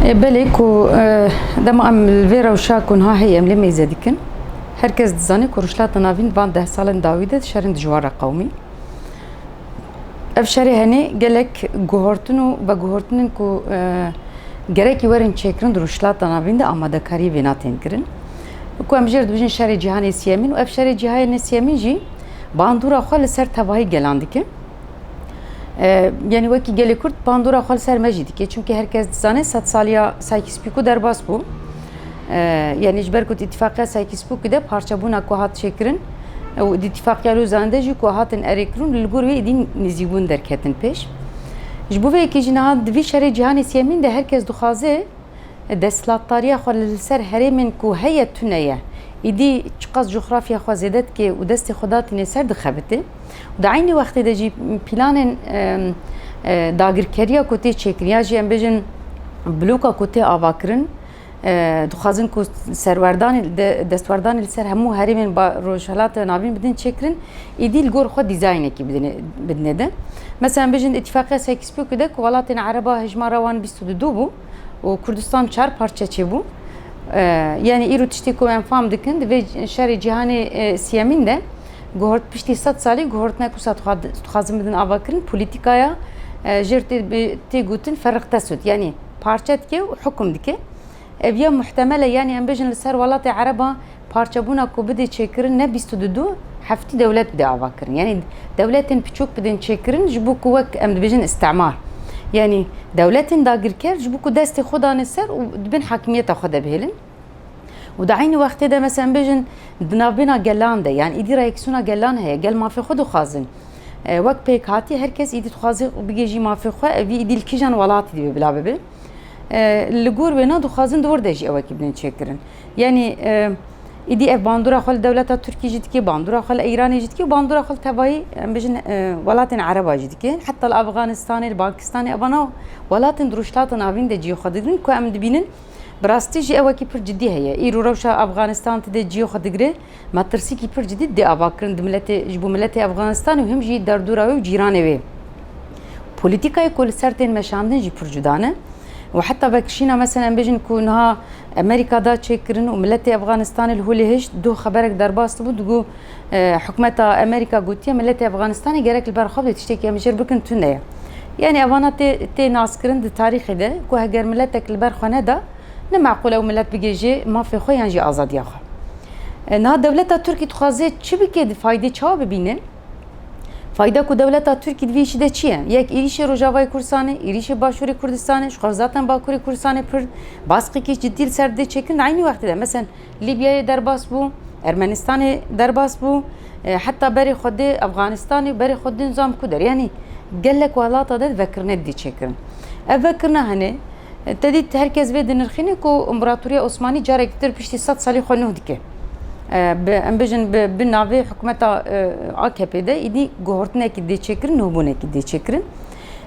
Belê ku dema em li vê rewşa ku niha heye em lê mêze dikin. Her kes dizane ku rojhilata navîn van deh salên dawî de şerên dijwar re qewimî. Ev şerê henê gelek guhortin û veguhortinên ku gerekî werin çêkirin di rojhilata navîn de amadekariyê vêna tên kirin. Ku em jê re dibêjin şerê cîhanê siyemîn û ev şerê cîhanê siyemîn jî bandora xwe li ser tevahî gelan dike. Yanî wekî gelê Kurd bandora xwe li ser me jî dike çimkî herkes dizane sed saliya Saykîspîkû derbas bû. Yanî ji ber ku îtîfaqiya Saykîspîkû de parçebûna ku hat çêkirin û îtîfaqiya Lûzan de jî ku hatin erêkirin li gor wê êdî nêzîbûn derketin pêş. Ji bo vê yekê jî niha di vî şerê cîhanê siyemîn de herkes dixwaze desthilatdariya xwe li ser herêmên ku heye tune ye. Êdî çiqas coxrafya xwe zêde dike û destê xwe datîne ser dixebite. û di eynî wextê de jî pîlanên dagirkeriya ku tê çêkirin ya jî em bêjin bloka ku tê avakirin dixwazin ku serwerdanê destwerdanê li ser hemû herêmên rojhilata navîn bidin çêkirin êdî li gor xwe dîzaynekî bidine de mesela em bêjin îtîfaqiya Sykes-Picot de ku welatên ereba hejmara wan bîst û du du bû û Kurdistan çar parçe çêbû yanî îro tiştê ku em fam dikin di vê şerê cîhanê siyemîn de Guhort piştî sed salî guhortina ku sed dixwazin bidin avakirin polîtîkaya jêr tê gotin ferq tesut yanî parçe dike û hukum dike. Ev ya muhtemel e yanî em bêjin li ser welatê ereban parçebûna ku bidê çêkirin ne bîst û du du heftî dewlet bidê avakirin. Yanî dewletên piçûk bidên çêkirin ji bo ku wek em dibêjin îstimar yanî dewletên dagirker ji bo ku destê xwe dane ser û di bin hakimiyeta xwe de bihêlin. û di eynî wextê de mesela em bêjin di navbêna gelan de yan îdî reyeksîyona gelan heye gel mafê xwe dixwazin wek pêk hatî her kes îdî dixwazê bigêjî mafê xwe evî îdî li kîjan welatî divê bila bibe li gor wêna dixwazin di wir de jî ewekî bidin çêkirin yanî îdî ev bandora xwe li dewleta Tirkî jî dikê bandora xwe li Îranê jî dikê û bandora xwe li tevayî em bijin welatên Ereba jî dikê heta li Afganistanê li Pakistanê evana welatin di rojhilata navîn de ciyê xwe didin ku em dibînin Bi rastî jî ewekî pir cidî heye. Îro rewşa Afganistan ti dê ciyê xwe digire. Metirsîkî pir cidî dê ava kirin di miletê ji bo miletê Afganistanê û him jî derdora wê û cîranê wê. Polîtîkayê ku li ser tên meşandin jî pir cuda ne û heta vekişîna meselen em bêjin ku niha Amerîka da çêkirin û miletê Afganistanê li holê hişt, doh xeberek derbas dibû digo, Hikûmeta Amerîka gotiye miletê Efxanistanê gerek li ber xwe bê tiştekî em jêr bikin tune ye. Yanî evana tê tê naskirin di tarîxê de ku heger miletek li ber xwe neda ne meqûl e ew milet bigê jê mafê xwe yan jî azadiya xwe. Niha dewleta Tirkî dixwaze çi bike di faydê çawa bibîne? Fayda ku dewleta Tirkî di vê yişî de çi ye? Yek êrîşê Rojavayê Kurdistanê, êrîşê Başûrê Kurdistanê, ji xwe zaten Bakurê Kurdistanê pird, baskekî cidî li ser didê çêkirin di eynî wextê de. Meselen Lîbyayê derbas bû, Ermenistanê derbas bû, heta berê xwe dê Efxanistanê û berê xwe din zam ku der. Yanî gelek welata de vekirine didî çêkirin. Ev vekirina hene te dît her kes vê dinirxîne ku Împaratoriya Osmanî carekî dir piştî sed salî xwe nuh dike. Bi em bijin bi bi navê hikûmeta AKP'ê de îdî guhortinekî dê çêkirin, nuhbûnekî dê çêkirin.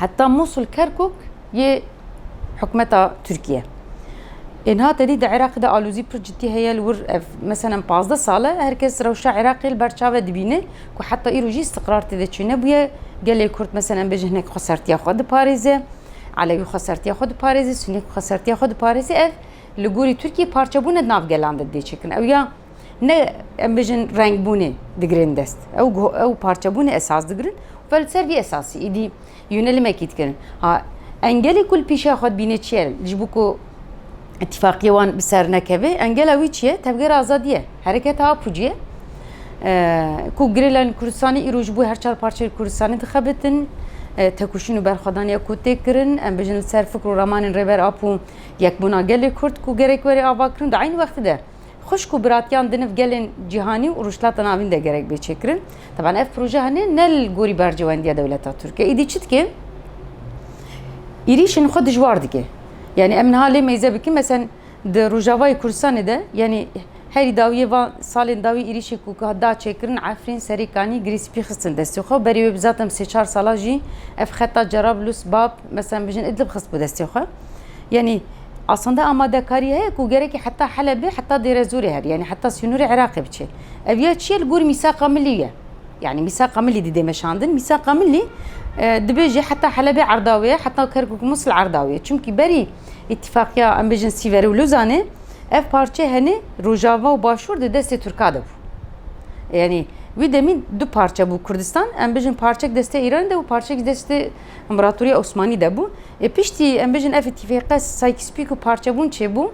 Heta Mûsul Kerkûk yê hikûmeta Tirkiye. Êniha tedî di Iraqê de alozî pir cidî heye li wir ev meselem pazdeh sal e her kes rewşa Iraqê li ber çav e dibîne ku heta îro jî îstiqrar tê de çênebûye. Gelê Kurd meselem bê ji hinek xwe sertiya xwe diparêze, Elewî xwe sertiya xwe diparêze, Sunî xwe sertiya xwe diparêze ev li gorî Tirkiyê parçebûne di nav gelan de dê çêkin. Ew ya Ne em bêjin rengbûnê digirin dest. Ew ew parçebûnê esas digirin û li ser vî esasî êdî yûnelimekî dikirin. Ha engelê ku li pîşeya xwe dibînê çi ye ji bo ku îtîfaqiyê wan bi ser nekeve engela wî çi ye tevgera azadî ye hereketa Apucî ye ku girêlayên Kurdistanê îro ji bo her çar parçeyên Kurdistanê dixebitin tekuşîn û berxwedaniya ku tê kirin em bijin li ser fikr û ramanên Rêber Apo yekbûna gelê Kurd ku gerek were avakirin di eynî wextî de Xwişk û biratiyan di nav gelên cîhanî û Rojhilata Navîn de gerek bê çêkirin. Teban ev proje hene ne li gorî berjewendiya dewleta Tirk e. Îdî çi dike? Êrîşên xwe dijwar dike. Yanî em niha lê meyze bikin mesen di Rojavayê Kurdistanê de yanî herî dawiyê van salên dawî êrîşê ku hat da çêkirin Efrîn, Serê Kanî, Girê Spî xistin destê xwe. Berê wê bi zatem sê çar salan jî ev xeta Cerablus, Bab, mesen bijin Idlib xistbû destê xwe. Yanî Asanda amadekarî heye ku gerekî heta Helebê, heta Dêrezorê herî yanî heta sînorê Iraqê biçe. Ev ya çi ye li gor mîsaqa milî ye. Yanî mîsaqa milî didê meşandin. Mîsaqa milî e, dibe jî heta Helebê erda wê ye, heta Kerkûk Musil erda wê ye. Çimkî berî îtîfaqiya em bêjin Sîverê û Lozanê ev parçe henê Rojava û Başûr di destê Tirka de bû. Yanî wî demî du parçe bû Kurdistan. Em bêjin parçek destê Îranê de bû, parçek jî destê Împaratoriya Osmanî de bû. Ê piştî em bijîn ev îtîfêqe saykîspîk û parçebûn çêbû.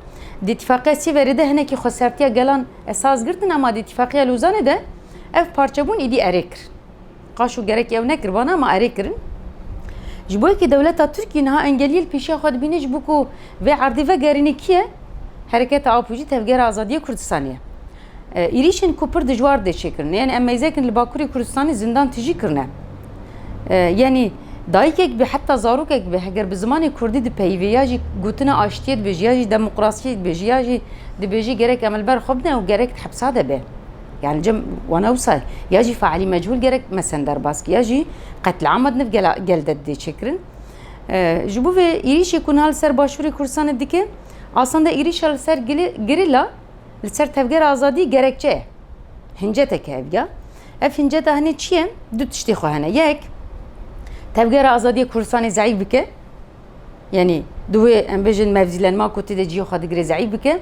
Di îtîfaqeya Sîverê de hinekî xwesertiya gelan esas girtin ema di îtîfaqiya Lozanê de ev parçebûn îdî erê kir. Qaş û gerekî ew nekir vana ema erê kirin. Ji bo yekê dewleta Tirkî niha engeliyê li pêşiya xwe dibîne ji bo ku vê erdê vegerîne kî ye? Hereketa Apo jî tevgera azadiyê Kurdistanê ye. Êrîşên ku pir dijwar dê çêkirin yanî em mêzekin li Bakurê Kurdistanê zindan tijî kirine. Yanî dayikek be heta zarokek be heger bi zimanê Kurdî dipeyivê ya jî gotina aştiyê dibêje ya jî demokrasiyê dibêje ya jî dibêje gerek em li ber xwe bidin ew gerek di hepsa de be. Yanî cem wana wisa ye. Ya jî faîlî mecûl gerek mesin derbas ki ya jî qetliama di nif gel de didê çêkirin. Ji bo vê êrîşê ku niha li ser Başûrê Kurdistanê dike aslanda êrîşa li ser girîla Li ser tevgera azadî gerekçe ye. Hincetek e evga. Ev hinceta hinê çi ye? Du tiştê xwe hene. Yek, tevgera azadiyê Kurdistanê zeîf bike. Yanî divê em bijin mevzîlenma ku tê de cihê xwe digire zeîf bike.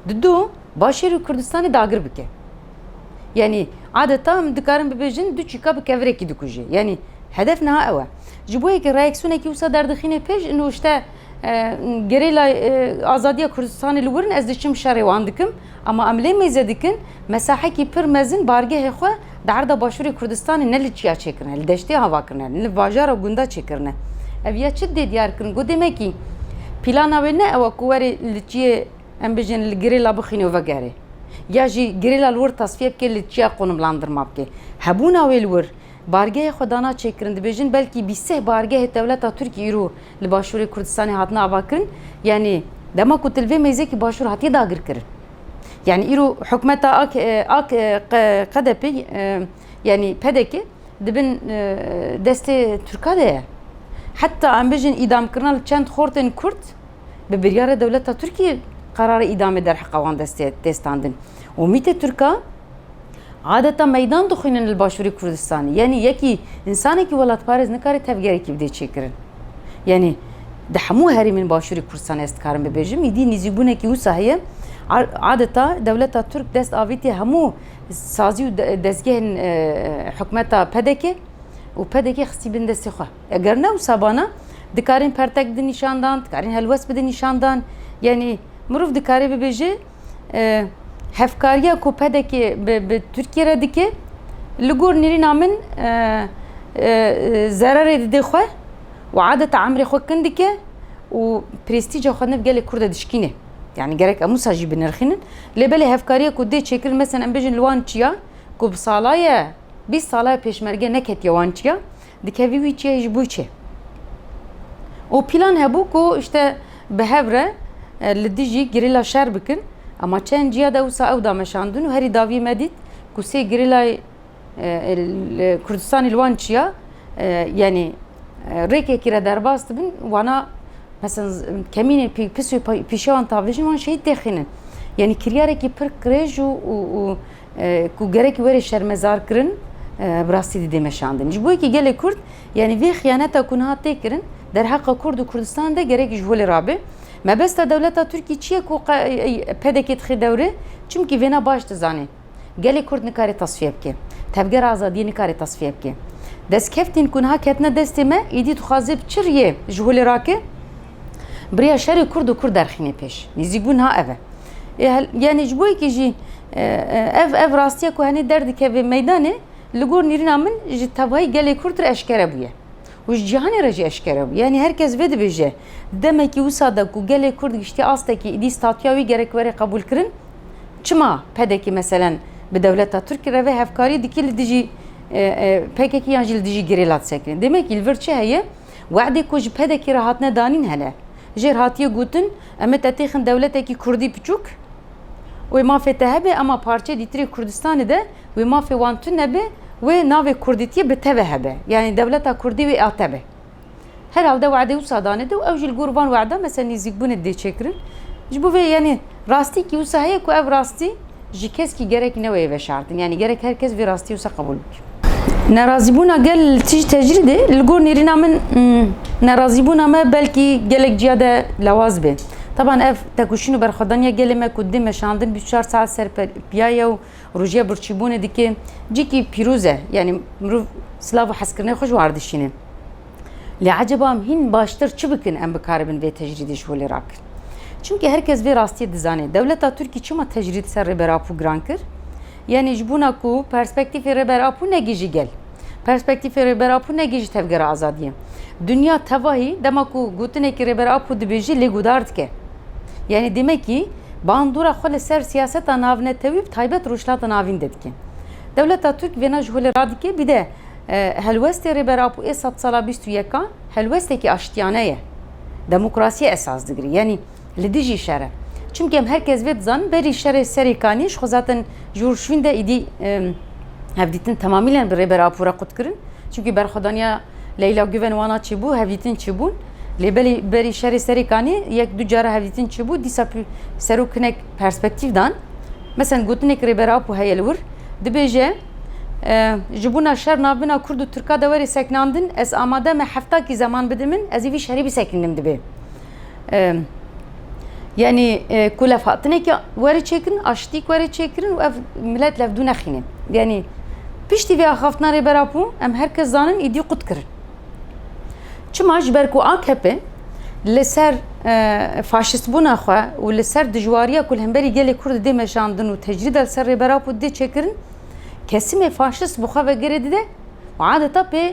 Di du, başêr û Kurdistanê dagir bike. Yanî adeta em dikarin bibêjin du çîka bi kevirekî dikujê. Yanî hedef niha ew e. Ji bo yekî reaksiyonekî wisa derdixînê pêş û nûşte Gerîla Azadiya Kurdistanê li wir in ez diçim şerê wan dikim ama em lê mêze dikin mesahekî pir mezin bargehê xwe di erda başûrê Kurdistanê ne li çiya çêkirine li deştê hava kirine ne li bajara gunda çêkirine ev ya çi dê diyar kirin ku demekî pîlana wê ne ew e ku werê li çiyê em bijin li gerîla bixîne û vegerê ya jî gerîla li wir tasfiye bike li çiya qonimlandirma bike hebûna wê li wir Bargehê xwe dana çêkirin, dibêjin belkî bîst seh bargehê dewleta Tirkî îro li Başûrê Kurdistanê hatine avakirin, yanî dema ku til vê mêzekî Başûr hatiye dagirkirin. Yanî îro hikûmeta ak ak qedepê yanî pedekê di bin destê Tirkan de ye. Heta em bijin îdamkirina li çend xortên Kurd bi biryara dewleta Tirkî qerara îdamê derheqe wan destê dê standin û mîtê Tirkan Adeta meydan dixwînin li Başûrê Kurdistanê. Yanî yekî însanekî welatparêz nikare tevgerekî bide çêkirin. Yanî di hemû herêmên Başûrê Kurdistanê ez dikarim bibêjim îdî nîzîbûnekî wisa heye. Adeta dewleta Tirk dest avîtiye hemû sazî û dezgehên e, hikûmeta PDK û PDK xistî bin destê xwe. Eger ne wisa bana dikarên pertek bidin nîşandan, dikarên helwest bidin nîşandan. Yanî mirov dikarê bibêje hevkariya ku pedekê bi Tirkiye re dike li gor nêrîna min zererê dide xwe û adeta emrê xwe kin dike û prestîca xwe nev gelê Kurd de dişkîne. Yani gerek em wisa jî binirxînin. Lê belê hevkariya ku dê çêkirin mesela em bêjin li wan çiya ku bi salaye bîst salaye pêşmerge neketiye wan çiya. Dikevî wî çi ye ji bo çi? Û pîlan hebû ku işte bi hev re li dijî gerîla şer bikin. Ema çend ciya de wisa ew dameşandin û herî davî me dît ku sê gerîlayê Kurdistanê li wan çiya yanî rêkekî re derbas dibin wana mesen kemînên pis û pîşewan tavlêjin wan şehîd têxînin. Yanî kiryarekî pir qirêj û Ku gerek were şermezar kirin bi rastî didê meşandin. Ji bo yekî gelê Kurd yanî vê xiyaneta ku niha tê kirin derheqa Kurd û Kurdistan de gerek ji holê rabe. Mebesta dewleta Tirkî çi ye ku PDK'ê dixê dewre? Çimkî vêna baş dizane. Gelê Kurd nikare tasfiye bike. Tevgera azadiyê nikare tasfiye bike. Destkevtên ku niha ketine destê me êdî dixwaze bi çi riyê ji holê rake? Bi riya şerê Kurd û Kurd derxîne pêş. Nêzîkbûn niha ev e. Yanî ji bo yekî jî Ev ev rastiya ku henê derdikeve meydanê li gor nîrîna min ji tevayî gelê Kurd re eşkere bûye û ji cîhanê re jî eşkere bûye. Yanî her kes vê dibêje demekî wisa de ku gelê Kurd giştiye astekî îdî statuya wî gerek were qebûlkirin. Çima PDK'ê meselen bi dewleta Tirk re vê hevkariyê dike li dijî PKK'ê yan jî li dijî gerîla disekinê? Demekî li vir çi heye? Wexdê ku ji PDK'ê re hatine danîn hele jêr hatiye gotin em ê tetêxin dewletekî Kurdî piçûk, Wê mafê te hebe ema parçeyê dîtirê Kurdistanê de wê mafê wan tune be wê navê kurdîtiyê bi te ve hebe. Yanî dewleta kurdî wê a te be. Herhalde wade wisa dane de û ew jî li gor van wada mesela nêzîkbûnê dê çêkirin. Ji bo vê yanî rastîkî wisa heye ku ev rastî ji keskî gerekî ne weye veşartin. Yanî gerek her kes vê rastîyê wisa qebûl bike. Nerazîbûna gel li tij tecrîdê li gor nêrîna min nerazîbûna me belkî gelek ciya de lewaz bê. Taban ev tekuşîn û berxwedaniya gelê me ku dê meşandin bîst çar saet ser piya ye û rojîya birçîbûnê dike cîkî pîroz e. Yanî mirov silav û hezkirinê xwe ji war dişîne. Lê ecaba em hîn baştir çi bikin em bikaribin vê tecrîdê ji holê rakin? Çimkî her kes vê rastiyê dizane. Dewleta Tirkî çima tecrîd ser Rêber Apo giran kir? Yanî ji bona ku perspektîfê Rêber Apo ne gijî gel. Perspektîfê Rêber Apo ne gijî tevgera azadiyê. Dinya tevahî dema ku gotinekî Rêber Apo dibêjî lê guhdar dike. Yanî demekî bandora xwe li ser siyaseta navnetewî bi taybet Rojhilata Navîn de dike. Dewleta Tirk vêna ji holê radike bî de helwestê Rêber Apo ê sedsala bîst û yekan helwestekî aştiyane ye. Demokrasiyê esas digire. Yanî. Li dijî şer e. Çimkî em her kes vê dizanin berî şerê serê kanî ji xwe zaten ji wir şwîn de îdî hevdîtin temamîlen bi Rêber Apo re qut kirin. Çimkî berxwedaniya Leyla Guven wana çêbû, hevdîtin çêbûn. Lê belî berî şerê serê kanî yek du cara hevdîtin çêbû, dîsa serok hinek perspektîf dan. Meselen gotinekî Rêber Apo heye li wir. Dibêje ji bûna şer navbîna kurd û tirka de were sekinandin, ez amade me heftakî zeman bide min, ez ê vî şerê bisekininim dibê. Yanî ku lev hatinekî were çêkirin, aştîk were çêkirin û ev milet levdû nexîne. Yanî piştî vê axaftina Rêbera Pûn em her kes zanin îdî qut kirin. Çima ji ber ku AKP li ser faşîstbûna xwe û li ser dijwariya ku li hemberî gelê Kurd dê meşandin û tecrîda li ser Rêbera Pûn dê çêkirin, kesimê faşîst bi xwe ve girê dide û adeta pê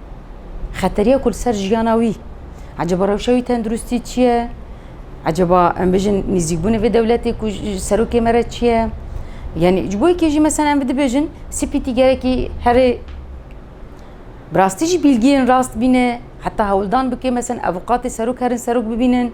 Xeteriya ku li ser jiyana wî, ecaba rewşa wî tenduristî çi ye? Ecaba em bijin nîzîkbûnê vê dewletê ku serokê me re çi ye? Yani ji bo yekê jî mesela em dibêjin CPT gerekî herê bi rastî jî bilgiyên rast bîne heta hewldan bike mesela avûkatê serok herin serok bibînin.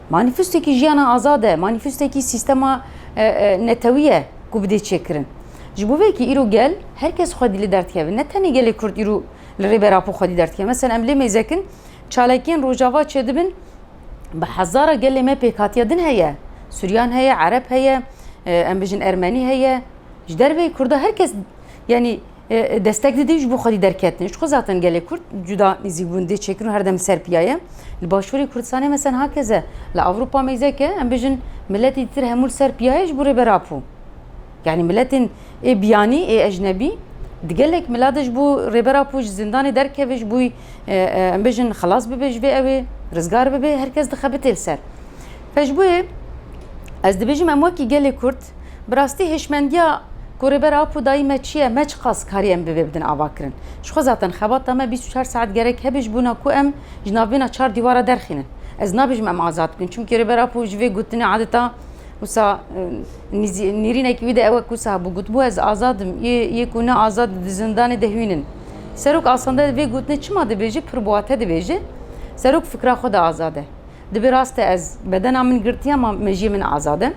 Manîfestekî jiyana azad e, manîfestekî sîstema netewî ye ku bi dê çêkirin. Ji bo vê kî îro gel her kes xwedî li derdkeve. Ne tenê gelê Kurd îro li Rêber Apo xwedî derdkeve. Meselen em lê mêzekin çalakiyên Rojava çêdibin bi hezara gelê me pêkhatiya din heye. Suryan heye, Ereb heye, em bijin Ermenî heye. Ji derveyî Kurda her kes yanî Destek didin ji bo xwedî derketinê. Ji xwe zaten gelê Kurd cuda nîzîkbûn dê çêkirin û herdem ser piya ye. Li başûrê Kurdistanê mesen hakeze. Li Ewropa mêzeke em bijin miletî dir hemû li ser piya ye ji bo Rêber Apo. Yanî miletên ê biyanî, ê ecnebî di gelek mila de ji bo Rêber Apo ji zindanê derkeve ji bo em bijin xilas bibe ji vê ewê, rizgar bibe herkes dixebitê li ser. Pejbûyê ez dibêjim em wekî gelê Kurd bi rastî hêşmendiya ku Rêber Apo dayî me çi ye, me çiqas karî em bi vê bidin avakirin. Ji xwe zaten xebata me bîst û çar saet gerek hebe ji bona ku em ji navbêna çar dîwara derxînin. Ez nabêjim em azad bibin çimkî Rêber Apo ji vê gotinê adeta wisa nêrînekî wî de ew e ku wisa hebû gotibû ez azad im, yê ku ne azad di zindanê de hwînin. Serok asende vê gotinê çima dibêje pir bi wate dibêje, Serok fikra xwe de azad e. Di vê rastê ez bedena min girtiye ama mejiyê min azad e.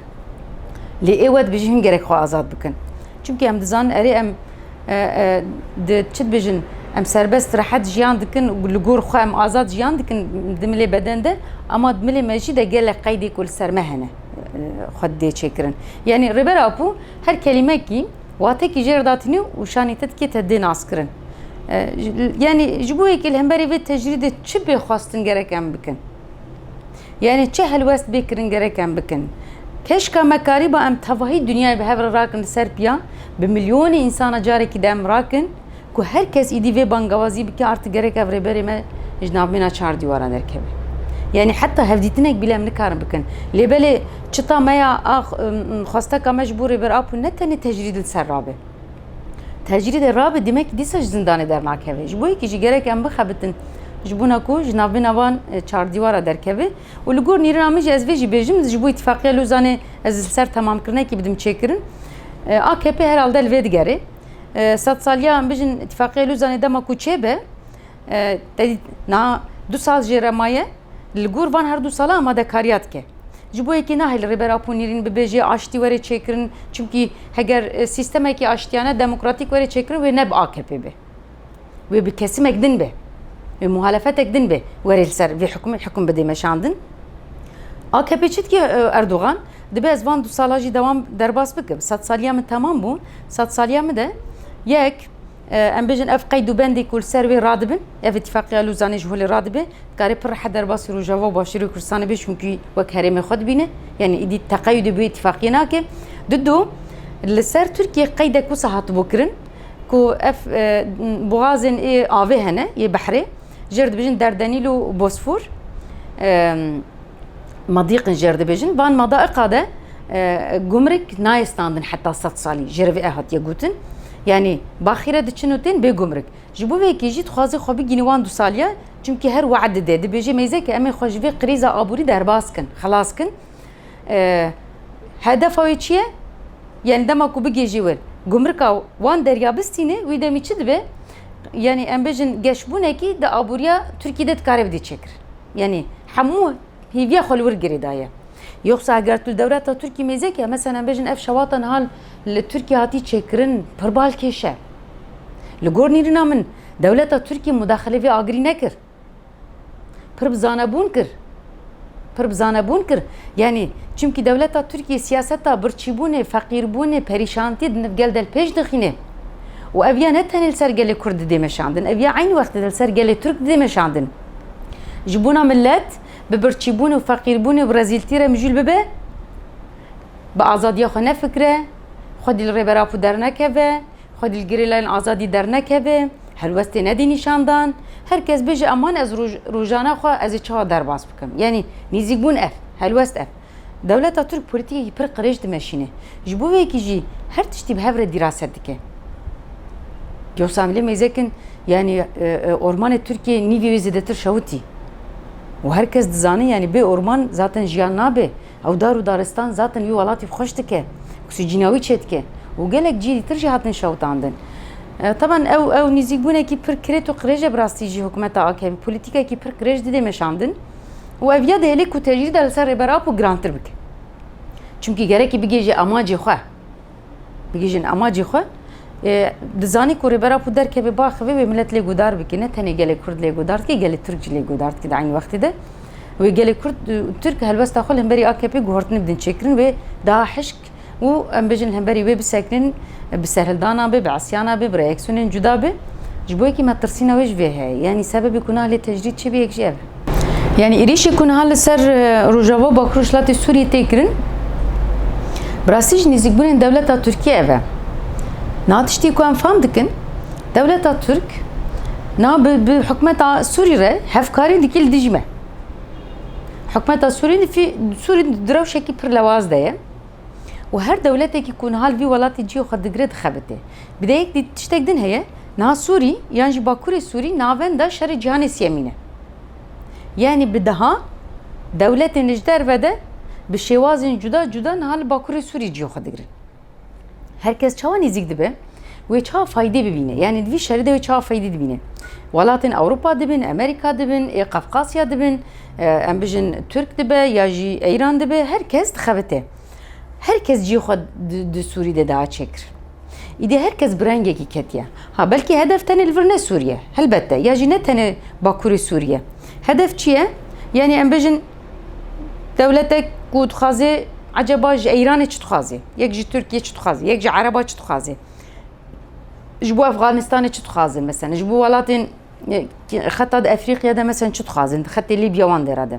Lê êwe dibêjin him gerek xwe azad bikin. Çimkî em dizanin erê em di çi dibêjin em serbest rehet jiyan dikin û li gor xwe em azad jiyan dikin di milê beden de ama di milê mejî de gelek qeydê ku li ser me hene xwe didê çêkirin. Yanî Rêber Apo her kelîmekî Watekî jêr da tinî û şanî te dikê te dê naskirin. Yanî ji bo yekê li hemberî vê tecrîdê çi bê xwestin gerek em bikin? Yanî çi helwest bê kirin gerek em bikin? Keşka me karîba em tevahî dinyayê bi hev re rakin li ser piya, bi milyonê însan re carekî di em rakin, Ku her kes îdî vê bangewazî bike arti gerek ev rêberê me ji nav mîna çar dîwaran derkeve. Yanî heta hevdîtinek bîle em nikarin bikin. Lê belê çita me ya a xwesteka me ji bo Rêber Apo ne tenê tecrîd li ser rabe. Tecrîdê rabe demekî dîsa ji zindanê dernakeve. Ji bo yekî jî gerek em bixebitin ji bona ku ji nav mîna van çardîwara derkeve û li gor nîrina min jî ez vê jî bêjim ji bo Îtîfaqiya Lozanê ez li ser temamkirinekî bidim çêkirin. AKP herhalde li vê digerê. Sed saliya em bijin Îtîfaqiya Lûzanê dema ku çêbe na du sal jê re maye li gor van her du sala amadekariya dike. Ji bo yekî nahê li Rêber Apo Nîrîn bibêje aştî were çêkirin çimkî heger sîstemekî aştiyane demokratîk were çêkirin wê ne bi AKP'ê be. Wê bi kesimek din be, wê muhalefetek din be were li ser vê hikûmê hikûm bidê meşandin. AKP çi dike Erdogan? Dibe ez van du sala jî dewam derbas bikim. Sed saliya min temam bû. Sed saliya min de yek em bêjin ev qeyd û bendê ku li ser wê radibin, ev îtîfaqiya Lûzanê ji holê radibe, dikarê pir rehet derbasî Rojava û Başûrê Kurdistanê be çunkî wek herêmê xwe dibîne. Yanî îdî teqeyûdê bi wê îtîfaqiyê nake. Didu, li ser Tirkiyê qeydek wisa hatibû kirin, Ku ev boxazên ê avê hene yê behrê jê re dibêjin Derdenîl û Bosfor. Madîqin jê re dibêjin van madaiqa de gumrik nayê standin heta sed salî jê re vê ev hatiye gotin. Yanî baxî re diçin û tên bê gumrik. Ji bo vê yekê jî dixwaze xwe bigihîne wan du saliyan çimkî her we'd dide. Dibêje mêzeke em ê xwe ji vê krîza aborî derbas kin, xelas kin. Hedefa wê çi ye? Yanî dema ku bigihîjî wir gumrika wan derya bistîne wî demî çi dibe? Yanî em bijin geşbûnekî di aboriya Tirkî de dikare bidî çêkir. Yanî hemû hîviya xwe li wir girê daye. Yoxsa eger tu li dewleta Tirkî mêzek e, meselen em bijin ev şewata niha li Tirkî hatî çêkirin pirbal kêş e. Li gor nîrîna min dewleta Tirkî mudaxile vê agirî nekir. Pir bi zanebûn kir. Pir bi zanebûn kir. Yanî çimkî dewleta Tirkiyê siyaseta birçîbûnê, feqîrbûnê, perîşantiyê di nivgel de li pêş dixîne û ev ya ne tenê li ser gelê Kurd didê meşandin, ev ya eynî wextê de li ser gelê Tirk didê meşandin. Ji bona milet bi birçîbûnê û feqîrbûnê û rezîltî re mijûl bibe, bi azadiya xwe nefikre, xwedî li Rêber Apo dernekeve, Xwe li gerîlayên azadî dernekeve, helwestê nedî nîşan dan, her kes bêje aman ez rojana xwe ez ê çawa derbas bikim. Yanî nêzîkbûn ev, helwest ev. Dewleta Tirk polîtîkekî pir qirêj dimeşîne. Ji bo vekî jî her tiştî bi hev re dîraset dike. Dîyosa lê mêzekin yanî ormanê Tirkiyê nîvê wê zêdetir şewitî. Û her kes dizane yanî bê orman zaten jiyan nabe. Ew dar û daristan zaten wî welatî xweş dike, oksîcîna wî çêdike û gelek cîlî tir jî hatin şewitandin. Taban ew ew nîzîkbûnekî pir kirêt û qirêj e bi rastî jî hikûmeta AKP'ê polîtîkekî pir qirêj dide meşandin û ev ya dihêle ku tecrîda li ser Rêber Apo girantir bike. Çimkî gerekî bigihêje amacê xwe. Bigihîjin amacê xwe. Dizanî ku rêbera ku derkeve biaxivê wê milet lê guhdar bike. Ne tenê gelê Kurd lê guhdar dike, gelê Tirk jî lê guhdar dike di eynî wextê de. Wê gelê Kurd û Tirk helwesta xwe li hemberî AKP'ê guhertinê bidin çêkirin wê daha hişk û em bêjin li hemberî wê bisekirin bi serhildana be, bi isyana be, bi reaksiyonên cuda be. Ji bo yekî me tirsîna wê ji vê heye. Yanî sebebê ku nahlê tecrîd çêbe yek jî ev e. Yani êrîşê ku niha li ser Rojava Bakur Rojhilatê Sûriyê tê kirin bi rastî jî nêzîkbûnên dewleta Tirkiye ev e. Niha tiştî ku em fam dikin dewleta Tirk niha bi bi hikûmeta Sûrî re hevkarî dikî li dijî me. Hikûmeta Sûrî di fî Sûrî di rewşekî pir lewaz de ye. û her dewletekî ku niha li vî welatê cihê xwe digire dixebitê. Bi dê yek dît tiştek din heye, niha Sûrî yan jî Bakurê Sûrî navenda şerê cîhanê sîyemîn e. Yanî bi deha dewletên li ji derve de bi şêwazên cuda cuda niha li Bakurê Sûrî cîya xwe digirin. Her kes çawa nêzîk dibe, wê çawa faydê bibîne, yanî di vî şerê de wê çawa faydê dibîne. Welatên Ewropa dibin, Amerîka dibin, ê Qefqasya dibin, em bijin Tirk dibe ya jî Îran dibe, her kes dixebite. Her kes cî xwe di Sûrî de da çêkir. Îdî her kes bi rengekî ketiye. Ha belkî hedef tenê li vir ne Sûriye. Helbette ya jî ne tenê Bakurê Sûriye. Hedef çi ye? Yanî em bijin dewletek ku dixwaze eceba ji Eyranê çi dixwaze? Yek ji Tirkiyê çi dixwaze? Yek ji Ereba çi dixwaze? Ji bo Efxanistanê çi dixwaze mesela? Ji bo welatên xeta di Efrîqiya de mesela çi dixwazin? Xetê Lîbya wan dêra de.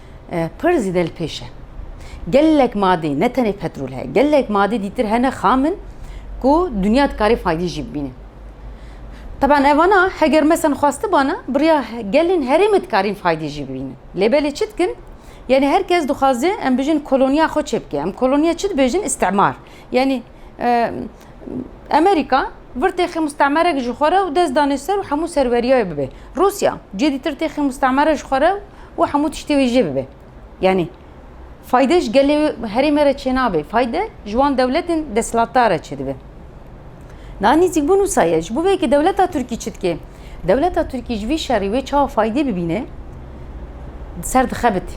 Pir zî de li pêş e. Gelek madê ne tenê petrol heye. Gelek madê dîtir hene xam in ku dinya dikarê faydî jî bibîne. Taban evana heger mesan xwestibana biriya gelên herêmê dikarîn faydî jî bibînin. Lê belê çi dikin? Yanî her kes dixwaze em bijîn koloniya xwe çêbike. Em koloniya çi dibêjin? Îstimar. Yanî Amerîka vir têxê mustemerek ji xwe re û dest danê ser û hemû serweriyayê bibe. Rûsya cê dîtir têxê mustemere ji xwe re û hemû tiştê wê jê bibe. Yanî fayde ji gelê herêmê re çênabe, fayde ji wan dewletên desthilatdar re çêdibe. Niha nîzîkbûn wisa ye. Ji bo vê yekê dewleta Tirkî çi dike? Dewleta Tirkî ji vî şerî wê çawa faydê bibîne, serdixebite.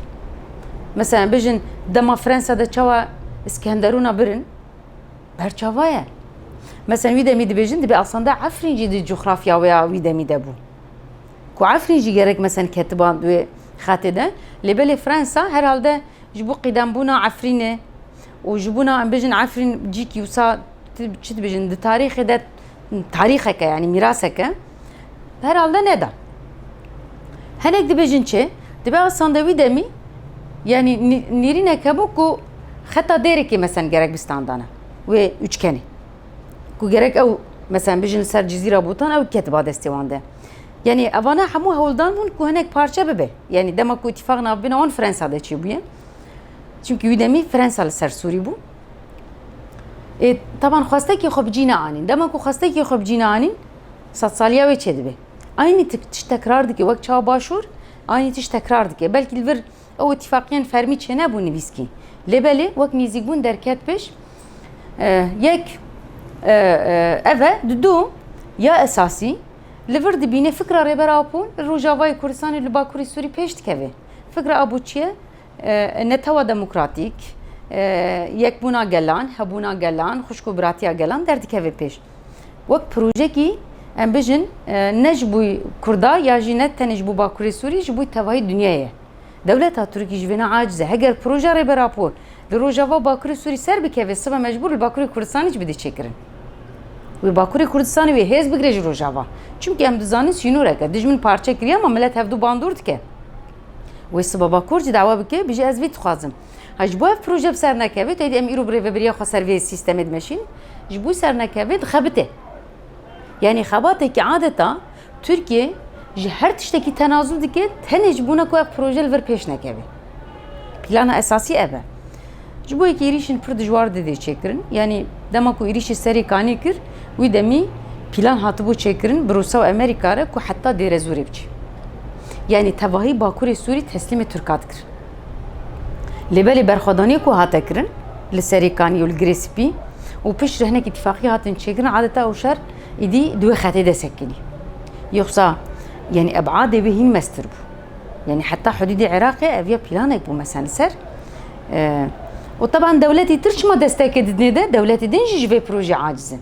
Mesela bijin dema Fransa de çawa İskenderun'a birin berçava ye. Mesela wî demî dibêjin dibê asanda Efrîn jî di coğrafya wê ya wî demî de bû. Ku Efrîn jî gerek mesela ketiban wê xetê de lê belê Fransa herhalde ji bo qîdembûna Efrînê û ji bûna em bijin Efrîn cîkî wisa çi dibêjin di tarîxê de tarîxeke yanî mîraseke herhalde neda. Hinek dibêjin çi? Dibe ew sandê wî demî yanî nîrînek hebû ku xeta dêrekê mesen gerek bi standana wê üçgenê. Ku gerek ew mesen bijin li ser cizîra bûtan ew ketiba destê wan de. Yanî evana hemû hewldan bûn ku hinek parçe bibe. Yanî dema ku îtîfaq navbîna wan Fransa de çêbûye. Çünkü wî demî Fransa li ser Sûrî bû. ê taban xwestekî xwe bi cî neanîn dema ku xwestekî xwe bi cî neanîn sed saliya wê çê dibe aynî tişt tekrar dike wek çawa başûr aynî tişt tekrar dike belkî li vir ew îtîfaqiyên fermî çê nebû nivîskî lê belê wek nêzîkbûn derket pêş yek ev e di du ya esasî li vir dibîne fikra Rêber Apo li Rojavayê Kurdistanê li Bakurê Sûrî pêş dikeve fikra Apo çi ye Netewa demokratîk, yekbûna gelan, hebûna gelan, xwişk û biratiya gelan derdikeve pêş. Wek projekî em bijin ne ji bo Kurda ya jî ne tenê ji bo Bakurê Sûrî ji bo tevahî dinyayê ye. Dewleta Tirkî ji vê ne aciz e. Heger proja Rêberapor li Rojava Bakurê Sûrî ser bikeve sibe mecbûr li Bakurê Kurdistanê jî bide çêkirin. Wê Bakurê Kurdistanê wê hêz bigire ji Rojava. Çimkî em dizanin sînorek e. Dijmin parçe kiriye ma milet hevdu bandor dike. Wê siba bakur cî dawa bike bijî ez vî dixwazim. Ha ji bo ev proje bi ser nekeve tê dî em îro bi rêvebiriya xwe ser vê sîstemê dimeşîn ji bo ser nekeve dixebite. Yanî xebatekî adeta Tirkiye ji her tiştekî tenazûl dike tenê ji bo ne ku ev proje li vir pêş nekeve. Plana esasî ev e. Ji bo yekê êrîşên pir dijwar didê çêkirin. Yanî dema ku êrîşê serê kanê kir, wî demî pîlan hatibû çêkirin bi Rûsa û Amerîka re ku heta Dêrezûrê biçe. Yanî tevahî Bakurê Sûrî teslîmê Tirkan dikirin. Lê belê berxwedaniyê ku hate kirin li Serê Kanî û li Girê Spî û piştre hinek îtîfaqî hatin çêkirin adeta ew şer îdî di wê xetê de sekinî. Yoxsa yanî ebadê wê hîn meztir bû. Yanî heta hudûdê Iraqê ev ya planek bû mesen li ser. û teban dewletî tir çima desteke didinê de dewletî din jî ji vê projê aciz in.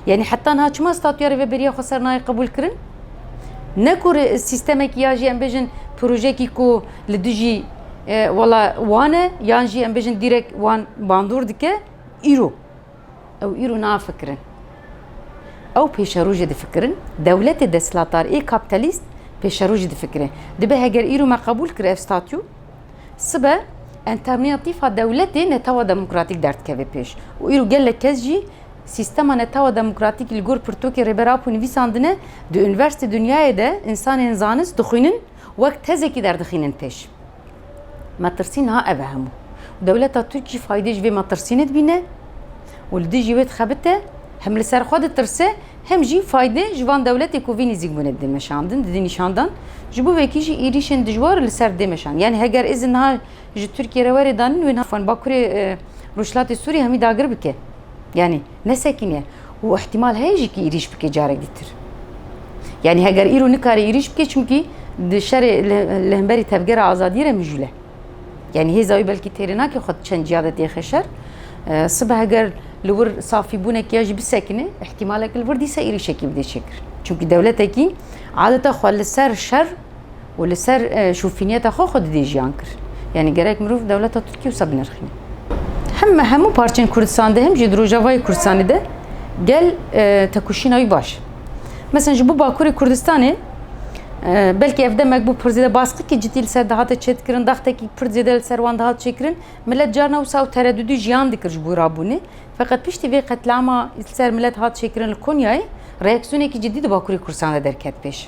Yanî heta niha çima statuya rêveberiya xwe ser nayê qebûl kirin? Ne ku sîstemekî ya jî em bêjin projekî ku li dijî wala wan e yan jî em bêjin dîrek wan bandor dike îro. Ew îro nafikirin. Ew pêşerojê difikirin. Dewletê desthilatar ê kapîtalîst pêşerojê difikire. Dibe heger îro me qebûl kir ev statû, sibe entermîyatîfa dewletê netewa demokratîk derdikeve pêş û îro gelek kes jî sîstema netewa demokratîkî li gor pirtûkê Rêber Apo nivîsandine, di unîversîtê dinyayê de însanên zanist dixwînin wek tezekî derdixînin pêş. Metirsî niha ev e hemû. Dewleta Tirkî faydê ji vê metirsînê dibîne û li dijî wê dixebite, hem li ser xwe ditirse, hem jî faydê ji van dewletê ku vî nîzîk bûne didê meşandin, didê nîşandan. Ji bo wekî jî êrîşên dijwar li ser dê meşandin. Yanî heger izin niha ji Tirkiyê re were danin wê niha van Bakurê Rojhilatê Sûriyê hemî dagir bike. Yanî. Ne sekîn e û îhtîmal heye jî kî êrîş bike carek dîtir. Yanî heger îro nikare êrîş bike çimkî di şerê li hemberî tevgera azadiyê re mijûl e. Yanî hêza wî belkî têrê nake xwe di çend ciya de têxe şer. Sibe heger li wir safîbûnekî ya jî bisekine îhtîmaleke li wir dîsa êrîşekî bidê çêkirin. Çimkî dewletekî adeta xwe li ser şer û li ser şûfîniyeta xwe xwe didê jiyan kir. Yanî gerek mirov dewleta Tirkî wisa binirxîne. Him hemû parçên Kurdistan de him jî di Rojavayê Kurdistanê de gel tekuşîna wî baş. Mesela ji bo Bakurê Kurdistanê belkî ev demek bû pir zêde baskikî cidî li ser dihate çêdikirin, daxtekî pir zêde li ser wan dihat çêkirin. Millet carna wisa û teredudî jiyan dikir ji bo rabûnê. Feqet piştî vê qetlama li ser millet hat çêkirin li Konyayê reaksiyonekî cidî di Bakurê Kurdistanê de derket pêş.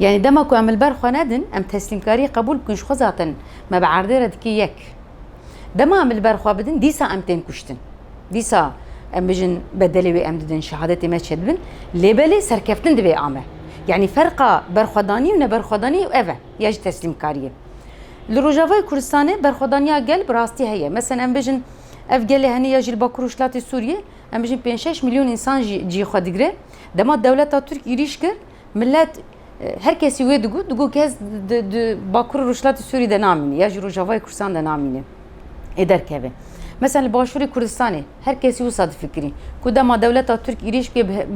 Yani dema ku em li ber xwe nedin, em teslîmkariyê qebûl bikin ji xwe zaten me bi erdê re dike yek. Dema em li ber xwe bidin, dîsa em tên kuştin. Dîsa em bijin bedelê wê em didin, şehadetê me çedibin, lê belê serkeftin divê a me. Yani ferqa berxwedanî û neberxwedanî ew e, ya jî teslîmkariyê. Li Rojavayê Kurdistanê berxwedaniya gel bi rastî heye. Meselen em bijin ev gelê henê ya jî li Bakur Rojhilatê Sûriyê Em bijîn pênc şeş milyon însan jî cî xwe digire. Dema dewleta Tirk êrîş kir, milet her kesî wê digot, digot kes di Bakur û Rojhilatê Sûrî de namîne ya jî Rojavayê Kursan de namîne ê derkeve. Mesela li Başûrê Kurdistanê her kesî wisa difikirî ku dema dewleta Tirk êrîş bike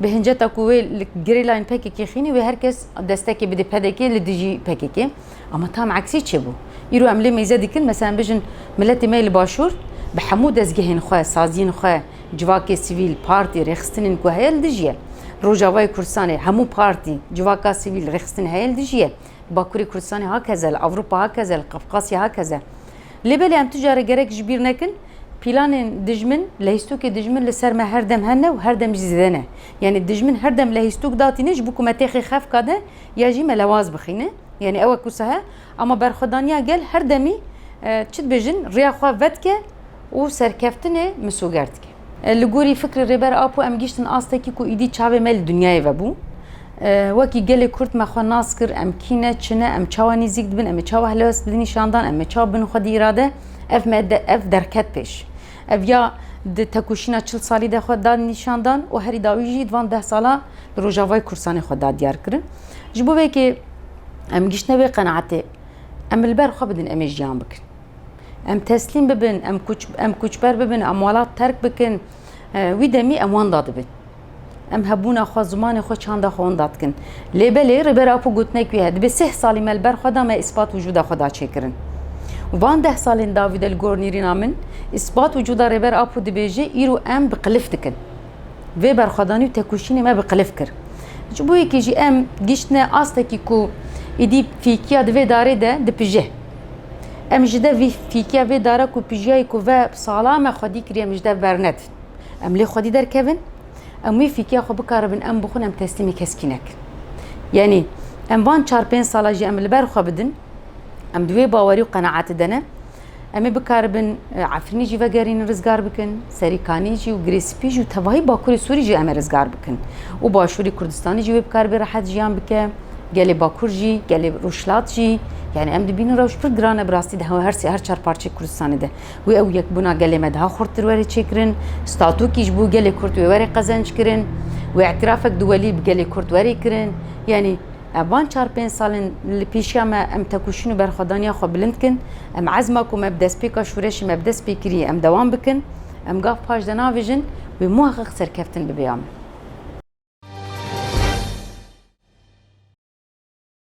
bi hinceta ku wê li gerîlayên PKK'ê xînî wê her kes destekê bidê PDK'ê li dijî PKK'ê. Ama tam eksî çêbû. Îro em lê mêze dikin, meselan bijin miletê me yê li başûr bi hemû dezgehên xwe, saziyên xwe, civakê sivîl, partî, rêxistinên ku heye li dijî ye. Rojavayê Kurdistanê hemû partî, civaka sivîl, rêxistin heye li dijî ye. Bakurê Kurdistanê hakeze, li Ewropa hakeze, li Qafqasya hakeze. Lê belê em tu care gerek ji bîr nekin, pîlanên dijmin, lehîstokê dijmin li ser me her dem hene û her dem jî zêde ne. Yanî dijmin her dem lehîstok datîne ji bo ku me têxê xefka de ya jî me lewaz bixîne. Yanî ew e ku sahe ama berxwedaniya gel her demî çi dibêjin rêya xwe vedike û serkeftinê misoger dike. Li gorî fikrê Rêber Apo em gihîştin astekî ku îdî çavê me li dinyayê vebû. Wekî gelê Kurd me xwe nas kir em kî ne, çi ne, em çawa nîzîk dibin, em ê çawa helwest bidin nîşandan, em ê çawa bin xwedî îrade, ev me ev derket pêş. Ev ya di têkoşîna çil salî de xwe da nîşandan û herî dawî jî di van deh salan li Rojavayê Kurdistanê xwe da diyar kirin. Ji bo vê yekê em giştine wê qenaetê, em li ber xwe bidin em ê jiyan bikin. Em teslîm bibin, em koçber bibin, em welat terk bikin, wî demî em wenda dibin. Em hebûna xwe zimanê xwe çanda xwe onda dikin. Lê belê Rêber Apo gotinek wî heye dibê sih salî me li ber xwe da me îspat wicûda xwe da çêkirin. Û van deh salên dawî de li gor nîrîna min îspat wicûda Rêber Apo dibêje îro em bi qilif dikin. Vê berxwedanî û tekoşînê me bi qilif kir. Ji bo yekê jî em gihîştine astekî ku êdî fîkiya di vê darê de dipije. Em ji dev vî fîkiya vê dara ku pijiyayî ku ve sala me xwedî kiriye min ji dev bernedî. Em lê xwedî derkevin, em wê fîkiya xwe bikaribin, em bixwin em teslîmê keskî nekin. Yanî em van çar pênc sala jî em li ber xwe bidin, em di wê bawerî û qenaetê de ne. Em ê bikaribin e, Efrînê jî vegerînin rizgar bikin, Serî Kanî jî û Girê Spî jî û tevahî Bakurê Sûrî jî em ê rizgar bikin. Û Başûrê Kurdistanê jî wê bikaribê rehet jiyan bike, gelê Bakur jî, gelê Rûjhilat jî. Yanî em dibînin rewş pir giran e bi rastî di her her çar parçeyê Kurdistanê de. Wê ew yekbûna gelê me daha xurttir were çêkirin, statûkî ji bo gelê Kurd wê were qezenc kirin, wê îtîrafek duwelî bi gelê Kurd were kirin. Yanî van çar pênc salên li pêşiya me em tekoşîn û berxwedaniya xwe bilind kin. Em ezma ku me bi destpêka şûreşê me bi dest pê kiriye em dewam bikin. Em gav paş de navêjin wê muheqiq serkeftin bibe ya me.